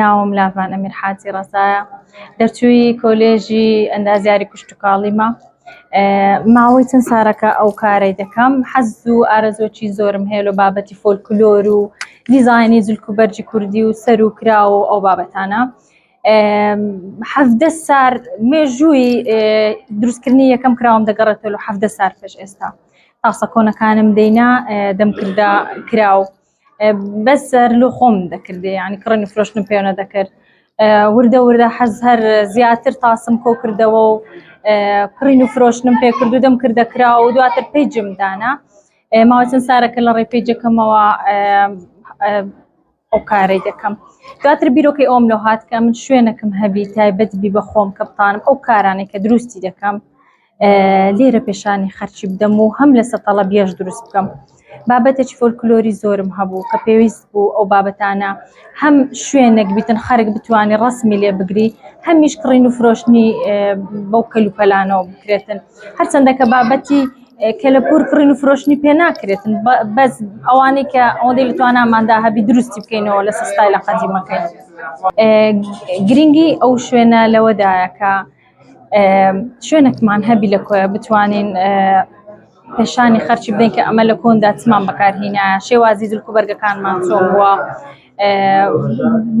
ناوم لاڤان ئەمیر حاجی ڕەزایە دەرچووی کۆلێژی ئەندازیاری کوشتتوکاڵیمە ماوەی چەند سارەکە ئەو کارەی دەکەم حەز و ئارەزۆکی زۆرم هەیە لە بابەتی فۆلکلۆر و دیزانی جلک و بەرجی کوردی و سەر و کرا و ئەو بابەتانە حەفدە سار مێژووی دروستکردنی یەکەم کراوم دەگەڕێتەوە حەفدە سار پێش ئێستا تاسە کۆنەکانم دینا دەمکردە کراوە بەس سەر لۆ خۆم دەکردێ ینی کڕن و فرۆشتن پێێنە دەکرد وردە وردە حەز هەر زیاتر تاسم کۆ کردەوە و کڕین و فرۆشتنم پێ کردو دەم کردە کرا و دواتر پێی جمدانە ماوەچەند سارەکە لە ڕێ پێیجەکەمەوە ئەو کارەی دەکەم دواتر بیرۆکەی ئەوم لە هاات کە من شوێنەکەم هەبی تایبەت بی بە خۆم کە بتانم ئەو کارانێک کە دروستی دەکەم لێرە پێشانی خەرچی بدەم و هەم لەسە تەڵەبیەش دروست بکەم بابەتێکی فۆلکلۆری زۆرم هەبوو کە پێویست بوو ئەو بابەتانە هەم شوێنێک بیتن خەرک بتانی ڕسمی لێ بگری هەمیش کڕین و فرۆشتنی بەو کەلوپەلانەوە بکرێتن هەرچەندە کە بابەتی کە لە پور کڕین و فرۆشتنی پێ ناکرێتن بەس ئەوانەی کە ئەوەندەی لە تواناماندا هەبی دروستی بکەینەوە لە سستای لە قەدیمەکەی گرنگی ئەو شوێنە لەوەدایە کە شوێنێکمان هەبی لە کۆیە بتوانین پێشانی خەرچی بدەین کە ئەمە لە کۆندا چمان بەکارهینا شێوازی زلک و بەرگەکانمان چۆن بووە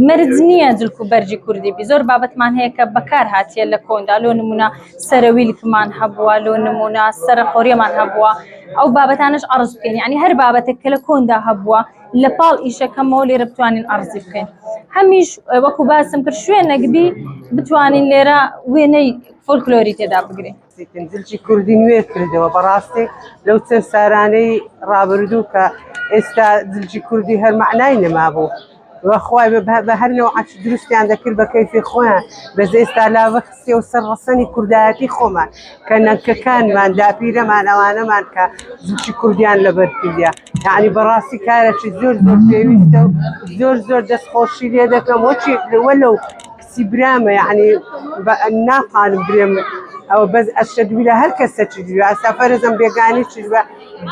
مرج نییە زلک و بەرجی کوردی بی زۆر بابەتمان هەیە کە بەکار هااتە لە کۆندا لۆ نمونە سەرەویلکمان هەبووە لۆ نمونە سەرە قۆریەمان هەبووە ئەو بابەتانش ئەڕز بکەین ینی هەر بابەتێک کە لە کۆندا هەبووە لە پاڵ ئیشەکەمەوە لێرە بتوانین ئەڕزی بکەین هەمیش وەکو باسم کرد شوێنەکبی بتوانین لێرە وێنەی فۆلکلۆری تێدا بگرین پنجلکی کوردی نوێ کردەوە بەڕاستی لەو چەند سارانەی ڕابردوو کە ئێستا جلجی کوردی هەر معنای نەما بوو. وەخوای بە هەر لەو عچ دروستیان دەکرد بە کەیفی خۆیان بە زێستا لاوە خستی و سەر ڕسەنی کوردایەتی خۆمان کە نەکەکانمان داپیرەمان ئەوانەمان کە زوچی کوردیان لەبەر کردیا یانی بەڕاستی کارێکی زۆر زۆر پێویستە و زۆر زۆر دەست خۆشی لێ دەکەم وەچی لەوە لەو کچی برامە یعنی ناقارم برێم ئەوە بەس ئەشەدویلە هەر کەسە چ دوێ ئاسافەرزم بێگانی چ بە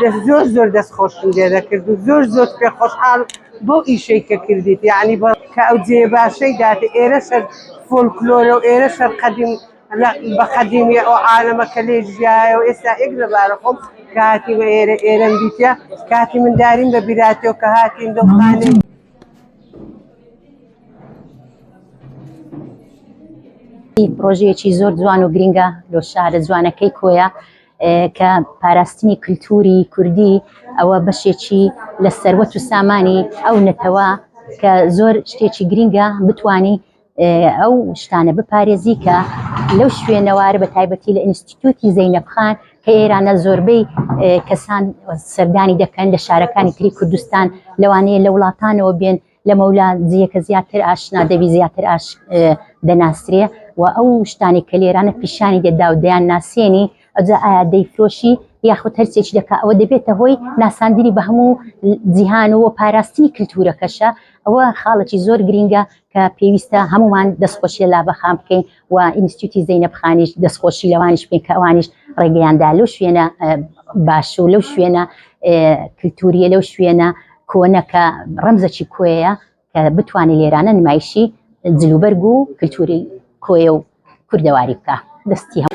دەست زۆر زۆر دەست خۆشم لێ دەکرد و زۆر زۆر پێ خۆشحاڵ بۆ ئیشەی کە کردیت یعنی بە کە ئەو جێ باشەی داتێ ئێرە سەر فۆلکلۆرە و ئێرە سەر قەدیم لە بە قەدیمی ئەو عالەمە کە لێ ژیایە و ئێستا ئێک لەبارە خۆم کە هاتیمە ئێرە ئێرەم دیتە کاتی منداریم بە بیراتێ و کە هاتین دڵخانێ پرۆژەیەکی زۆر جوان و گرنگە لۆ شارە جوانەکەی کۆیە کە پاراستنی کللتوری کوردی ئەوە بەشێکی لە سەروەت و سامانی ئەو نەتەوە کە زۆر شتێکی گرنگە بتانی ئەو شتانە بپارێزی کە لەو شوێنەوارە بە تایبەتی لە ئینستیتوتی زەینەب خان کە ئێرانە زۆربەی کەسان سەردانی دەکەن لە شارەکانی تری کوردستان لەوانەیە لە وڵاتانەوە بێن لە مەولا جیەکە زیاتر ئاشنا دەبی زیاتر ئاش دەناسرێ و ئەو شتانی کە لێرانە پیشانی دەدا و دەیان ناسێنی ئەجا ئایا دەیفرۆشی یاخود هەرچێکی دەکا ئەوە دەبێتە هۆی ناساندنی بە هەموو جیهان و پاراستنی کللتورەکەشە ئەوە خاڵکی زۆر گرینگە کە پێویستە هەموومان دەستخۆشی لە لاڤە خان بکەین و ئینستیتیوتی زەینەب خانیش دەستخۆشی لەوانیش بکەین کە ئەوانیش ڕێگەیان دا لەو شوێنە باش و لەو شوێنە کلتوریە لەو شوێنە کۆنەکە ڕەمزەکی کۆیە کە بتوانێت لێرانە نمایشی جلوبەرگ و کلتوری کۆیە و کوردەواری بکە دەستی هەم.